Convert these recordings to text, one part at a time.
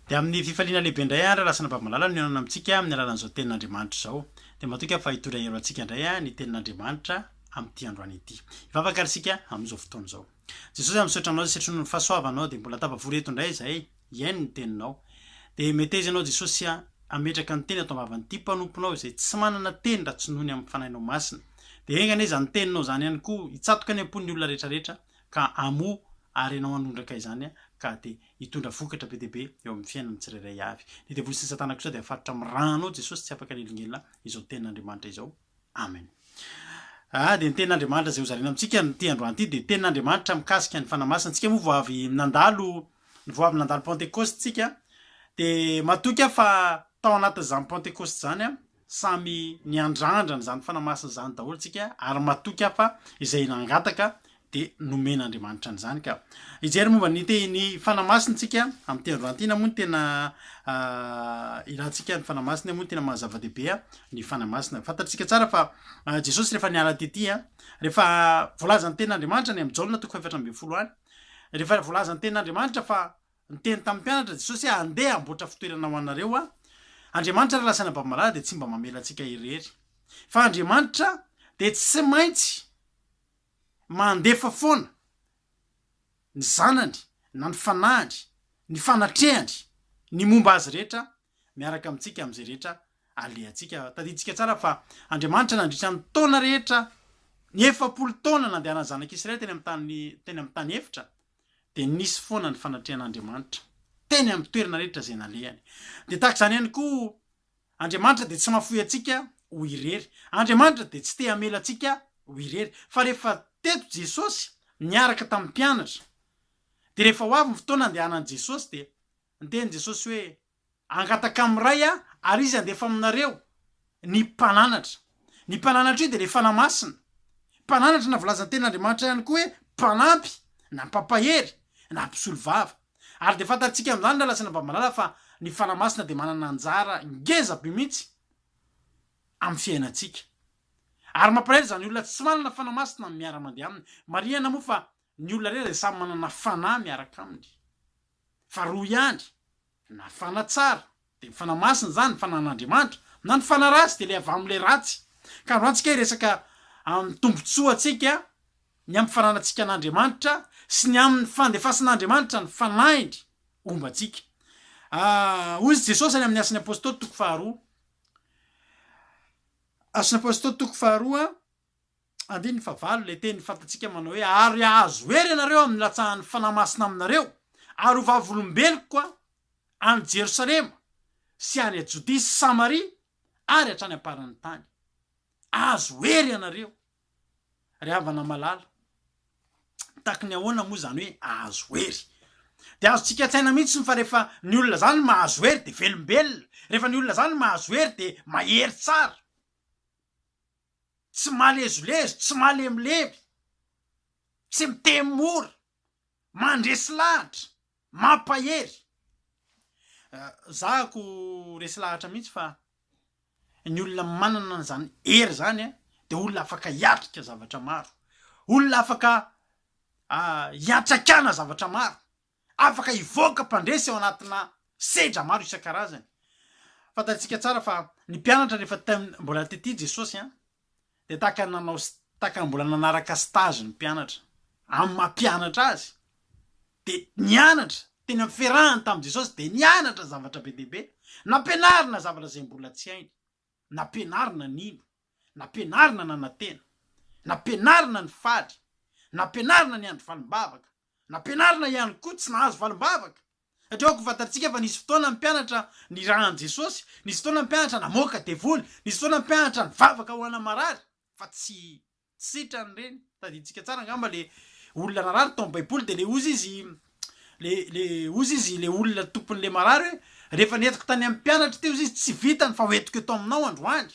Dia amin'ny fifaliana lehibe indray ary raha sanabavin'Malala no hihaonana amintsika amin'ny alalan'izao Tenin'Andriamanitra izao. Dia matoky aho fa hitondra hero antsika indray ny Tenin'Andriamanitra amin'ity androany ity. Hivavaka ary isika amin'izao fotoana izao. Jesosy aho misaotra Anao izay setroinao ny fahasoavanao dia mbola tafavory eto indray izahay hihaino ny Teninao. Dia meteza Ianao Jesosy hametraka ny Teny ato am-bavan'ity mpanomponao izay tsy manana teny raha tsy noho ny amin'ny Fanahinao Masina. Dia enga anie izany Teninao izany ihany koa hitsatoka any am-pon'ny olona rehetra rehetra ka hamoa ary Ianao hanondraka izany ka dia hitondra vokatra be dia be eo amin'ny fiainan'ny tsirairay avy. Ny devoly sy ny satana kosa dia faritra amin'ny rano, Jesosy tsy afaka hanelingelina izao tenin'Andriamanitra izao. Amen. Ah, dia ny tenin'Andriamanitra izay hozaraina amintsika ny ity androany ity dia tenin'Andriamanitra mikasika ny fanahy masina. Antsika moa vao avy nandalo, vao avy nandalo Pentecoste tsika, dia matoky aho fa tao anatin'izany Pentecoste izany aho, Samy niandrandrana izany fanamasina izany daholo isika ary matoky aho fa izay nangataka dia nomen'Andriamanitra an'izany ka. Hijery momba ny tehiny fanamasina isika amin'ny teny Roantina moa ny tena ilantsika ny fanamasina moa ny tena mahazava-dehibe ny fanamasina. Fantatsika tsara fa Jesosy rehefa niala tety, rehefa voalazan'ny tenin'Andriamanitra any amin'ny Jaona toko fahefatra ambin'ny folo any, rehefa voalazan'ny tenin'Andriamanitra fa Niteny tamin'ny mpianatra Jesosy hoe, Andeha hamboatra fitoerana ho anareo Aho. Andriamanitra ary lazaina babalà dia tsy mba mamela antsika irery. Fa Andriamanitra dia tsy maintsy mandefa foana ny Zanany, na ny Fanahiny, ny fanatrehany ny momba Azy rehetra miaraka amintsika amin'izay rehetra alehantsika. Tadidintsika tsara fa Andriamanitra nandritra ny taona rehetra, ny efapolo taona nandehanan'ny zanak'Israely teny amin'ny tany teny amin'ny tany efitra, dia nisy foana ny fanatrehan'Andriamanitra teny amin'ny toerana rehetra izay nalehany. Dia tahaka izany ihany koa, Andriamanitra dia tsy mahafoy antsika ho irery. Andriamanitra dia tsy te hamela antsika ho irery. Fa rehefa teto Jesosy niaraka tamin'ny mpianatra, dia rehefa ho avy ny fotoana handehanan'i Jesosy dia. Niteny Jesosy hoe, Angataka amin'ny Ray aho, ary Izy handefa aminareo ny Mpananatra. Ny Mpananatra io dia ilay Fanahy Masina. Mpananatra na volazan'ny tenin'Andriamanitra ihany koa hoe Mpanampy, na Mpampahery, na Mpisolovava. Ary dia fantatsika amin'izany ry lahy sy anabavy malala fa ny Fanahy Masina dia manana anjara ngeza be mihitsy amin'ny fiainantsika. Ary mampalahelo izany olona tsy manana Fanahy Masina amin'ny miara-mandeha aminy. Marihana moa fa ny olona rehetra dia samy manana Fanahy miaraka aminy. fa roa ihany, na fanatsara, dia ny fanahy masina izany, ny fanahin'Andriamanitra, na ny fanahy ratsy, dia ilay avy amin'ilay ratsy. Ka androany tsika hiresaka amin'ny tombontsoantsika, ny amin'ny fananantsika an'Andriamanitra, sy ny amin'ny fandefasan'Andriamanitra ny fanahiny homba antsika. Hoy izy Jesosy any amin'ny Asan'ny Apostoly toko faharoa, Asan'ny Apostoly toko faharoa, Andininy faha valo, ilay teny fantatsika manao hoe, Ary hahazo hery ianareo amin'ny latsahan'ny Fanahy Masina aminareo, ary ho vavolombeloko any Jerosalema sy any Jodia sy Samaria ary hatrany am-paran'ny tany. Hahazo hery ianareo. Ry havana malala, mitaky ny ahoana moa izany hoe hahazo hery? Dia azontsika an-tsaina mihitsy fa rehefa ny olona izany mahazo hery dia velombelona, rehefa ny olona izany mahazo hery dia mahery tsara. tsy malezolezo, tsy malemilemy, tsy miteny mora, mandresy lahatra, mampahery. Za ko resy lahatra mihitsy fa ny olona manana an'izany hery izany dia olona afaka hiatrika zavatra maro, olona afaka hiantraikana zavatra maro. afaka hivoaka mpandresy ao anatina sedra maro isan-karazany. Fantantsika tsara fa ny mpianatra rehefa tem mbola tety Jesosy an, dia tahaka ny nanao tahaka ny mbola nanaraka stage ny mpianatra amin'ny maha mpianatra azy, dia nianatra teny amin'ny fiarahany tamin'i Jesosy, dia nianatra zavatra be dia be, nampianarina zavatra izay mbola tsy hainy, nampianarina nino. Nampianarina nanantena. Nampianarina ny faly. Nampianarina ny handry valim-bavaka. Nampianarina ihany koa tsy nahazo valim-bavaka. Satria ao am-pifantarantsika fa nisy fotoana ny mpianatra niraha an'i Jesosy, nisy fotoana ny mpianatra namoaka devoly, nisy fotoana ny mpianatra nivavaka ho ana marary, fa tsy sitrany ireny. Tadidintsika tsara angamba ilay olona narary tao amin'ny Baiboly, dia ilay ozy izy, ilay, ilay ozy izy, ilay olona tompon'ilay marary hoe, Rehefa nentiko tany amin'ny mpianatra teo izy, tsy vitany, fa hoentiko eto aminao androany.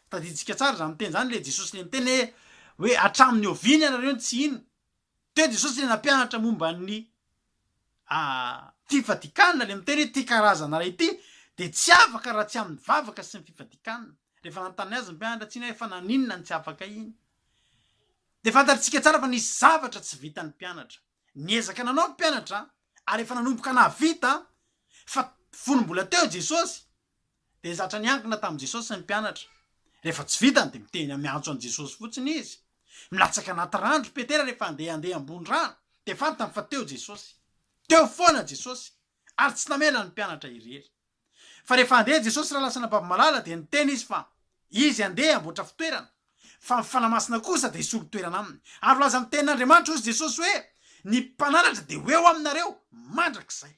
Tadidintsika tsara izany teny izany, ilay Jesosy ilay niteny hoe, hoe hatramin'ny oviana ianareo no tsy hino? Teo Jesosy ilay nampianatra momba ny fifadikanana, ilay miteny hoe ity karazana iray ity dia tsy afaka raha tsy amin'ny vavaka sy ny fifadikanana. Rehefa nanontany azy ny mpianatra tsy hino hoe fa naninona no tsy afaka hino? Dia fantatritsika tsara fa nisy zavatra tsy vitan'ny mpianatra. Niezaka nanao ny mpianatra ary efa nanomboka nahavita fa fony mbola teo Jesosy dia zatra niankina tamin'i Jesosy ny mpianatra. Rehefa tsy vitany dia miteny miantso an'i Jesosy fotsiny izy. Milatsaka anaty rano ry Petera rehefa andeha handeha ambony rano dia fantany fa teo Jesosy. Teo foana Jesosy ary tsy namela ny mpianatra irery. Fa rehefa handeha Jesosy raha lasa anabavy malala dia niteny Izy fa Izy handeha hamboatra fitoerana, fa ny Fanahy Masina kosa dia hisolo toerana aminy. Ary voalazan'ny Tenin'Andriamanitra hozy Jesosy hoe, Ny Mpananatra dia ho eo aminareo mandrakizay.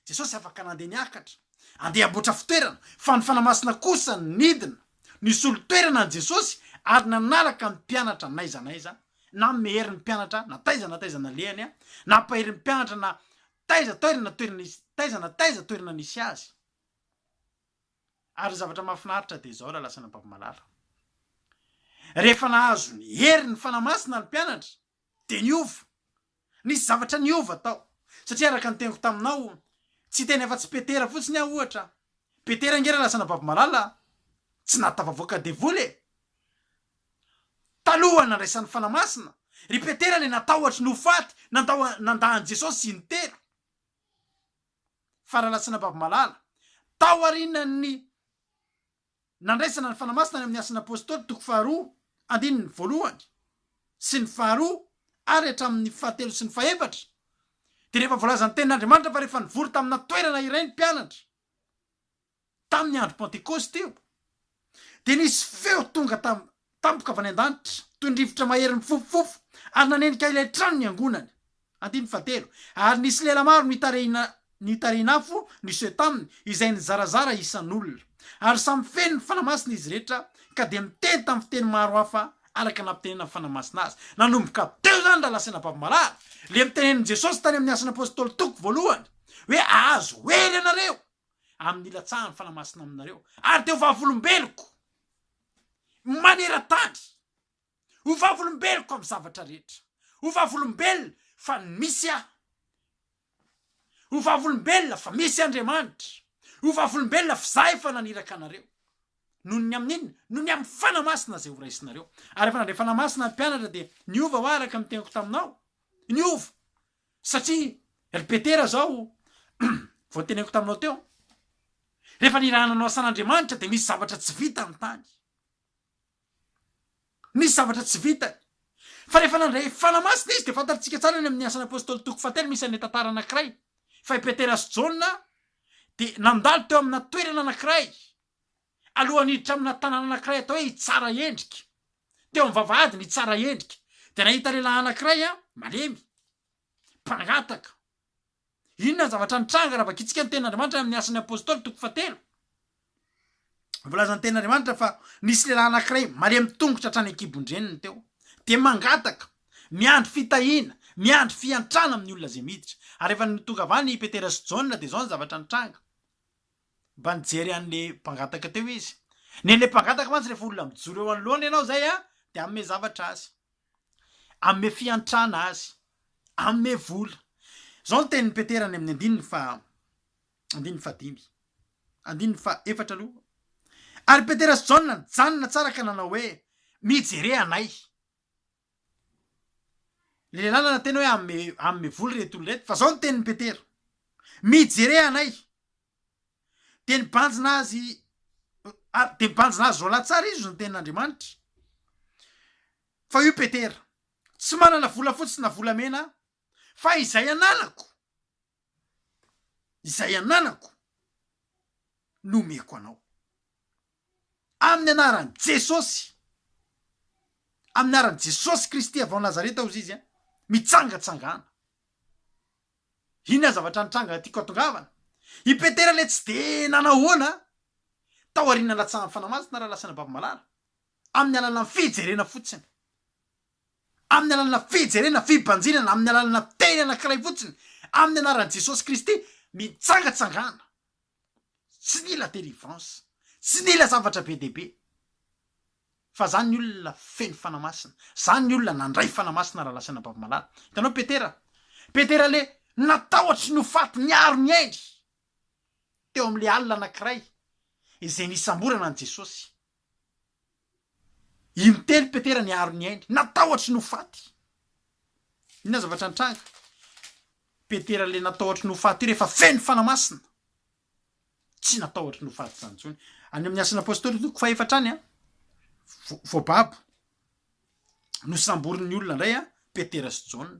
Jesosy afaka nandeha niakatra, handeha hamboatra fitoerana, fa ny Fanahy Masina kosa nidina, nisolo toerana an'i Jesosy ary nanaraka ny mpianatra n'aiza n'aiza, nanome hery ny mpianatra na taiza na taiza nalehany, nampahery ny mpianatra na Taiza toerana toerana izy taiza na taiza toerana nisy azy. Ary ny zavatra mahafinaritra dia izao raha lasa nampavomalala. Rehefa nahazo ny hery ny Fanahy Masina ny mpianatra dia niova. Nisy zavatra niova tao. Satria araka ny teniko taminao, tsy hiteny afa-tsy Petera fotsiny aho ohatra. Petera ange raha lasa nabavomalala tsy nahatafavoaka devoly e! Taloha nandraisan'ny Fanahy Masina, ry Petera ilay natahotry ny ho faty nandao nandà an'i Jesosy in-telo. Faralatsina Babimalala, taorianan'ny nandraisana ny Fanahy Masina any amin'ny Asan'ny Apôstôly toko faharoa andininy voalohany sy ny faharoa ary hatramin'ny fahatelo sy ny fahefatra, dia rehefa voalazan'ny Tenin'Andriamanitra fa rehefa nivory tamina toerana iray ny mpianatra, tamin'ny andro Pantekôsta io, dia nisy feo tonga tam, tampoka avy any an-danitra, toy ny rivotra mahery mifofofofo, ary nanenika ilay trano niangonany. Andininy fahatelo, Ary nisy lela maro nitarihina nitarihin'afo niseho taminy, izay nizarazara isan'olona. Ary samy feno ny Fanahy Masina izy rehetra, ka dia niteny tamin'ny fiteny maro hafa araka ny nampitenenan'ny Fanahy Masina azy. Nanomboka teo izany raha lasaina am-pavamalala, ilay notenenin'i Jesosy tany amin'ny Asan'ny Apôstôly toko voalohany, hoe, Ahazo hery ianareo! amin'ny hilatsahan'ny Fanahy Masina aminareo, ary dia ho vavolombeloko maneran-tany, ho vavolombeloko amin'ny zavatra rehetra, ho vavolombelona fa misy aho, ho vavolombelona fa misy Andriamanitra, ho vavolombelona fa izaho efa naniraka anareo, noho ny amin'inona? Noho ny amin'ny Fanahy Masina izay horaisinareo. Ary rehefa nandray Fanahy Masina ny mpianatra dia niova va araka ny teniko taminao? Niova! Satria, ry Petera, izao vao noteneniko taminao teo, rehefa nirahana anao asan'Andriamanitra dia nisy zavatra tsy vitany tany. Nisy zavatra tsy vitany. Fa rehefa nandray fanahy masina izy dia fantatritsika tsara any amin'ny asan'ny apostoly toko fahatelo misy an'ilay tantara anankiray fa i Petera sy Jaona dia nandalo teo amina toerana anankiray Alohan'ny hiditra amina tanàna anankiray atao hoe Itsara Endrika. Teo amin'ny vavahadin'i Itsara Endrika, dia nahita lehilahy anankiray malemy, mpangataka. Inona ny zavatra nitranga raha vakintsika ny Tenin'Andriamanitra any amin'ny Asan'ny Apôstôly toko fahatelo? Voalazan'ny Tenin'Andriamanitra fa nisy lehilahy anankiray malemy tongotra hatrany an-kibon-dreniny teo, dia mangataka, miandry fitahiana, miandry fiantrana amin'ny olona izay miditra. Ary rehefa nitongavany i Petera sy Jaona, dia izao ny zavatra nitranga. Mba nijery an'le mpangataka teo izy. Nen'le mpangataka mantsy rehefa olona mijoro eo anoloany ianao zay a, de hanome zavatra azy. Hanome fiantrana azy. Hanome vola. Zao ny tenin'i Petera any amin'ny andininy faha, andininy fahadimy. Andininy faha efatra aloha. Ary Petera sy Jaona nijanona tsara ka nanao hoe, Mijere anay. Le lehilahy nanana teny hoe amme amme voly reto olona reto fa zao ny tenin'i Petera, mijere anay, de nibanjina azy ary de mibanjina azy roalahy tsara izy ny tenin'Andriamanitra, fa io Petera, tsy manana volafotsy na volamena aho, fa izay ananako, izay ananako no omeko anao. Amin'ny anaran'i Jesosy. Amin'ny anaran'i Jesosy Kristy avy ao Nazareta hozy izy an! Mitsangatsangana. Inona zavatra nitranga tiako atongavana? I Petera ilay tsy dia nanahoana tao aorian'ny nalatsahan'ny Fanahy Masina raha lasa nababy malala. Amin'ny alalan'ny fijerena fotsiny. Amin'ny alalana fijerena, fibanjinana, amin'ny alalana teny anankiray fotsiny, amin'ny anaran'i Jesosy Kristy, mitsangatsangana. tsy nila délivrance, tsy nila zavatra be dia be, fa zany ny olona feno Fanahy Masina, zany ny olona nandray Fanahy Masina raha lasan'i Rabavalomalala. Hitanao Petera, Petera le natahotry ny ho faty niaro ny ainy teo amle alina anakiray izay nisamborana an'i Jesosy. Intelo Petera niaro ny ainy, natahotry ny ho faty. Inona zavatra nitranga? Petera ilay natahotry ny ho faty io rehefa feno Fanahy Masina, tsy natahotry ny ho faty izany intsony. Any amin'ny Asan'ny Apôstôly toko fahefatra any, voababo, nosamborin'ny olona indray Petera sy Jaona.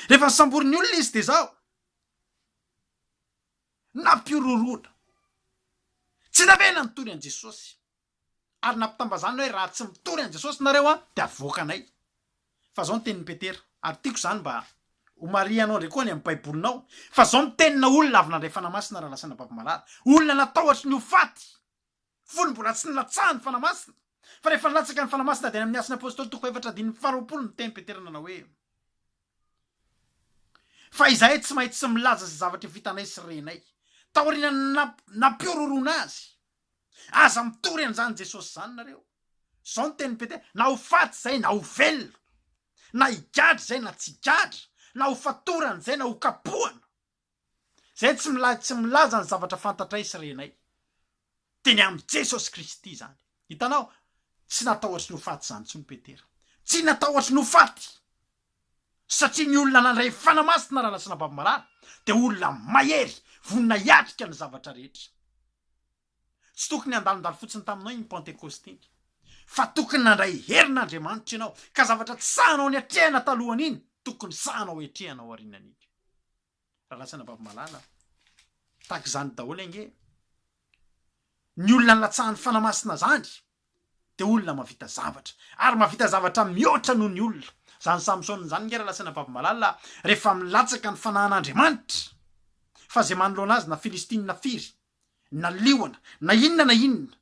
Rehefa nosamborin'ny olona izy dia izao. nampihorohoroana. Tsy navela nitory an'i Jesosy, ary nampitambazana hoe raha tsy mitory an'i Jesosy nareo dia avoaka anay. Fa zao ny tenin'i Petera, ary tiako zany mba homarihanao ndray koa any amin'ny baibolinao, fa zao mitenina olona avy nandray fanahy masina raha lasa nababy marary, olona natahotry ny ho faty, fony mbola tsy nilatsahan'ny Fanahy Masina, fa rehefa nilatsaka ny Fanahy Masina dia any amin'ny Asan'ny Apôstôly toko fahefatra andininy faharoapolo no teny Petera nanao hoe, Fa izahay tsy maintsy milaza izay zavatra vitanay sy renay, taorian'ny nampiororona azy. Aza mitory an'izany Jesosy izany nareo. Izao no tenin'i Petera, na ho faty izay na ho velona, na higadra izay na tsy higadra, na ho fatorana izay na ho kapohana. Izay tsy milay tsy milaza ny zavatra fantatray sy renay. Dia ny amin'i Jesosy Kristy izany. Hitanao? Tsy natahotry ny ho faty izany intsony Petera. Tsy natahotry ny ho faty. Satria ny olona nandray fanahy masina raha nasina-bavy marary dia olona mahery, vonona hiatrika ny zavatra rehetra. Tsy tokony handalondalo fotsiny taminao iny Pantekôsta iny, fa tokony nandray herin'Andriamanitra ianao, ka zavatra tsy sahanao niatrehana talohan'iny, tokony sahanao hiatrehana aorianan'iny. Rarahasina vavy malala a! Tahaka izany daholo ange ny olona nilatsahan'ny Fanahy Masina zany, dia olona mahavita zavatra, ary mahavita zavatra mihoatra noho ny olona. Izany Samsona izany ange rarahasina vavy malala a! rehefa milatsaka ny Fanahin'Andriamanitra, fa izay manoloana azy na Filistina firy, na liona na inona na inona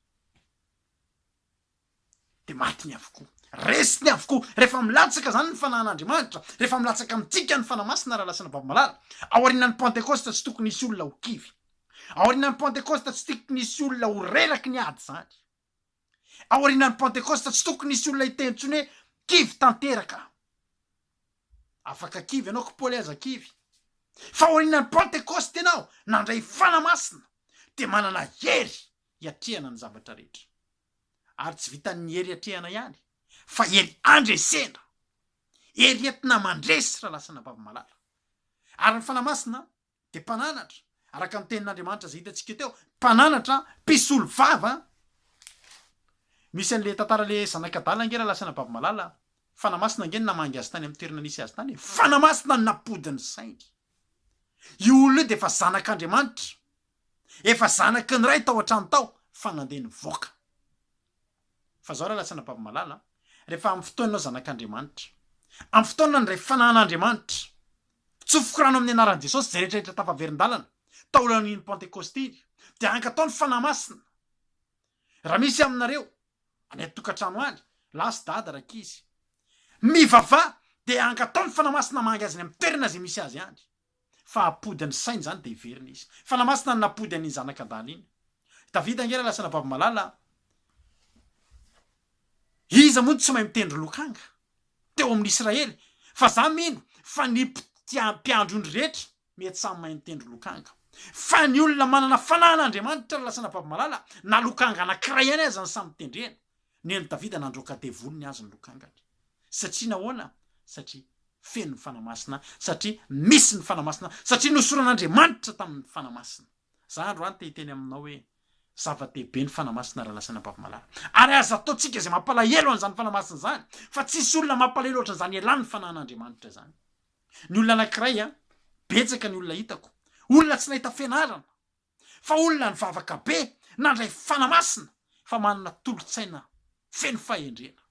de matiny avokoa resiny avokoa rehefa milatsaka zany ny fanahin'andriamanitra rehefa milatsaka amintsika ny fanahy masina raha lasana vavy malala aorianan'ny pentecoste tsy tokony hisy olona ho kivy aorianan'ny pentecoste tsy tokony hisy olona ho reraky ny ady zany Aorianan'ny Pentekosta, tsy tokony hisy olona hiteny intsony hoe, Kivy tanteraka aho. Afaka kivy ianao, koa Paoly aza kivy. Fa aorianan'ny Pentekosta ianao nandray fanahy masina, dia manana hery hiatrehana ny zavatra rehetra. Ary tsy vitan'ny hery hiatrehana ihany, fa hery handresena, hery entina mandresy raha lasa anabavy malala. Ary ny fanahy masina dia mpananatra, araka ny tenin'Andriamanitra izay hitantsika teo, mpananatra, mpisolo vava. Misy an'le tantara le zanak'adala ange raha lasan'i Babimalala, Fanamasina ange no namangy azy tany amin'ny toerana nisy azy tany e, Fanamasina no nampody ny sainy. Io olona io dia efa zanak'Andriamanitra, efa zanaky ny Ray tao an-trano tao fa nandeha nivoaka. Fa izao rahalahy sy anabavy malala a, rehefa amin'ny fotoananao zanak'Andriamanitra, amin'ny fotoanany indray fananan'Andriamanitra, tsofoka rano amin'ny anaran'i Jesosy izay rehetra rehetra tafaverin-dalana taolan'iny Pantekosty iny, dia hankatò ny Fanahy Masina, raha misy aminareo any an-tokantrano any, lahy sy dada, rankizy, mivavaha dia hankatò ny Fanahy Masina hamangy azy any amin'ny toerana izay misy azy any. fa hampody ny sainy izany dia hiverina izy. Fanahy Masina no nampody an'iny zanaka adala iny. Davida ange ilay lasa nababy malala an! Iza moa no tsy mahay mitendry lokanga teo amin'ny Israely? Fa za mino fa ny mpiandry ondry rehetra mety samy mahay mitendry lokanga. Fa ny olona manana fanahin'Andriamanitra no lasa nababy malala na lokanga anankiray ihany aza no samy tendrena. Ny an'i Davida nandroaka devoliny azy ny lokangany. Satria nahoana? Satria feno ny Fanahy Masina, satria misy ny Fanahy Masina, satria nosoran'Andriamanitra tamin'ny Fanahy Masina. Za androany te hiteny aminao hoe, zava-dehibe ny Fanahy Masina raha lasan'ny ampavimalala. Ary aza ataontsika izay mampalahelo an'izany Fanahy Masina izany, fa tsisy olona mampalahelo ohatran'izany elan'ny Fanahin'Andriamanitra izany. Ny olona anankiray, betsaka ny olona hitako, olona tsy nahita fianarana, fa olona nivavaka be nandray fana masina fa manana tolotsaina feno fahendrena.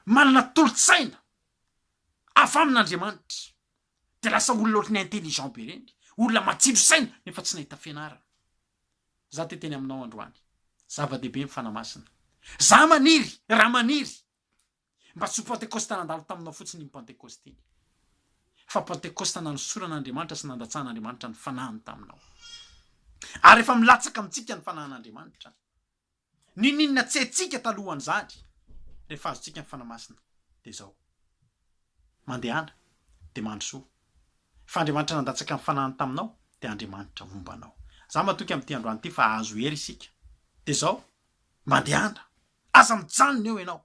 Manana tolotsaina avy amin'Andriamanitra dia lasa olona ohatran'ny intelligent be ireny, olona matsilo saina nefa tsy nahita fianarana. Za te teny aminao androany, zava-dehibe ny fana masina. Za maniry, raha maniry, Mba tsy ho Pantekosta nandalo taminao fotsiny iny Pantekosta iny, fa Pantekosta nanosoran'Andriamanitra sy nandatsahan'Andriamanitra ny fanahiny taminao. Ary efa milatsaka amintsika ny fanahin'Andriamanitra. N'inon'inona tsy haintsika talohan'izany, rehefa azontsika ny Fanahy Masina, dia izao. Mandehana, dia mandrosoa. Fa Andriamanitra nandatsaka ny fanahiny taminao, dia Andriamanitra homba anao. Izaho matoky amin'ity androany ity fa hahazo hery isika. Dia izao, mandehana. Aza mijanona eo ianao.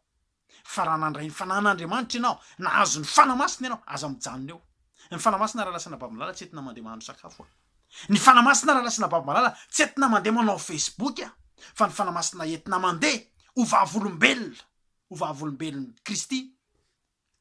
Fa raha nandray ny Fanahin'Andriamanitra ianao, nahazo ny Fanahy Masina ianao, aza mijanona eo. Ny Fanahy Masina raha lasana babo malala tsy entina mandeha mahandro sakafo a! Ny Fanahy Masina raha lasana babo malala tsy entina mandeha manao Facebook a! Fa ny Fanahy Masina entina mandeha ho vavolombelona, ho vavolombelon'i Kristy.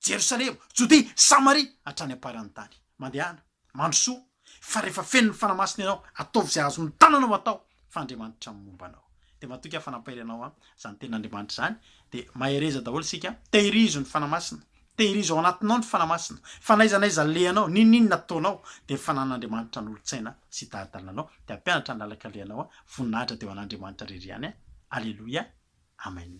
Jerosalema, Jodia, Samaria, hatrany am-paran'ny tany. Mandehana, mandrosoa, fa rehefa feno ny Fanahy Masina ianao, ataovy izay azon'ny tananao atao, fa Andriamanitra no momba anao. Dia matoky aho fa nampiray anao an, izany tenin'Andriamanitra izany, dia mahereza daholo isika an, tehirizo ny Fanahy Masina, tehirizo ao anatinao ny Fanahy Masina, fa n'aiza n'aiza alehanao, n'inon'inona ataonao, dia ny Fanan'Andriamanitra hanolotsaina sy hitari-dalana anao, dia hampianatra ny lalaka alehanao an, voninahitra dia ho an'Andriamanitra irery ihany an, Aleloia, Amen.